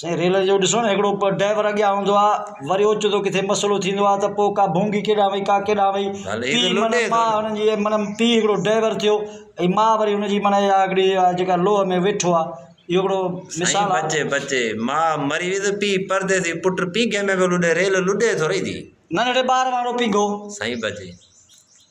سائين ريل جو ڏسو نا هڪڙو ڊرائيور اڳيان هوندو آ وري اوچتو ڪٿي مسئلو ٿيندو آ ته پو ڪا ڀونگي ڪيڏانهن وئي ڪا ڪيڏانهن وئي پي معنيٰ ماء هن جي معنيٰ پي هڪڙو ڊرائيور ٿيو ۽ ماء وري هن جي معنيٰ اها هڪڙي اها جيڪا لوهه ۾ ويٺو آ اهو هڪڙو مثال آ سائين بچي بچي ماء مري وئي ته پي پرديسي پٽ پينگهي ۾ پيو لڏي ريل لڏي ٿورئي ٿي ننڍڙي ٻار وانگڙو پينگهو سائين بچي.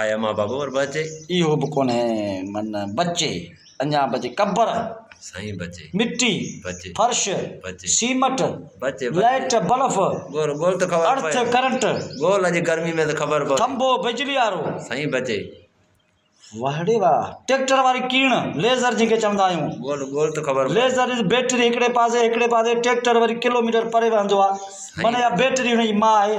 آيا مان بابو ور بچي. اهو به ڪونهي من بچي. اڃا بچي قبر. سائين بچي. مٽي. بچي. فرش. بچي. سيمٽ. بچي. Light bulb. گول گول ته خبر پئي. ارٿ ڪرنٽ. گول اڄ گرمي ۾ ته خبر پئي. ٿنڀو بجلي وارو. سائين بچي. وهڙي واه. ٽيڪٽر واري ڪيڻ. ليزر جنهن کي چوندا آهيون. گول گول ته خبر پئي. ليزر از بيٽري هڪڙي پاسي هڪڙي پاسي ٽيڪٽر وري ڪلوميٽر پري وهندو آهي. سائين. معنيٰ اها بيٽري هن جي ماء آهي.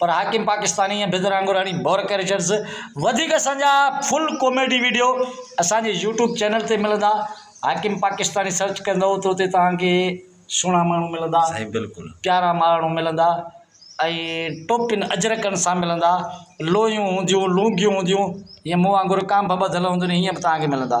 پر حاڪم پاڪستاني ۽ بيدر آنگوراڻي بور ڪريچرز وڌيڪ اسان جا فل ڪاميڊي ويڊيو اسان جي يوٽيوب چينل تي ملندا حاڪم پاڪستاني سرچ ڪندئو ته اتي توهان کي سهڻا ماڻهو ملندا سائين بلڪل پيارا ماڻهو ملندا ۽ ٽوپين اجرڪن سان ملندا لويون هونديون لونگيون هونديون ائين مون وانگر ڪانڀ ٻڌل هونديون هيئن به توهان کي ملندا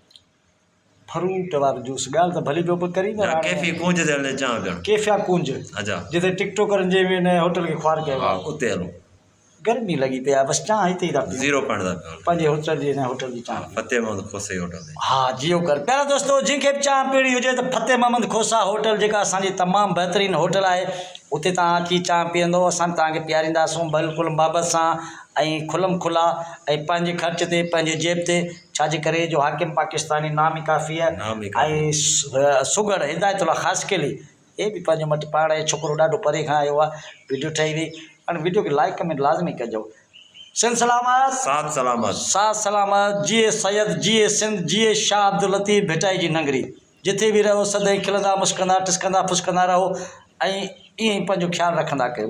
ڦروٽ وارو جوس ڳالهه ته ڀلي ڪيو پر ڪري نه رهاڙ ڪيفي ڪونج تي هلڻ چاهيان پيا ڪيفيا ڪونج اچا جتي ٽڪ ٽوڪرن جي ۾ نئين هوٽل کي خوار ڪيو ها آهي اتي هلون گرمي لڳي پئي آهي بس چانهه هتي ئي ٿا پيئون زيرو پوائنٽ تان پيون پنهنجي هوٽل جي نئين هوٽل جي چانهه پيئون. فتح محمد کوسي هوٽل تي ها جيو ڪر پيارا دوستو جنهن کي به چانهه پيڻي هجي ته فتح محمد کوسا هوٽل جيڪا اسان جي تمام بهترين هوٽل آهي اتي توهان اچي چانهه پيئندو اسان توهان کي پيارينداسون بلڪل محبت سان ۽ کلم کلا ۽ پنهنجي خرچ تي پنهنجي جيب تي ڇا جي ڪري جو حاڪم پاڪستاني نامي ڪافيء ۽ سگهڙ هدايت الله خاصخيلي هي به پنهنجو مٽ پاڙ ۽ ڇوڪرو ڏاڍو پري کان آيو آ ويڊيو ٺهي وئي هاڻي ويڊيو کي لائيڪ ڪمينٽ لازمي ڪجو سنڌ سلامت ساٿ سلامت ساٿ سلامت جيئي سيد جيئي سنڌ جيئي شاھ عبداللطيف ڀٽائي جي ننگري جٿي به رهو سدائين کلندا مسڪندا ٽسڪندا ڦسڪندا رهو ۽ ائين ئي پنهنجو خيال رکندا ڪيو.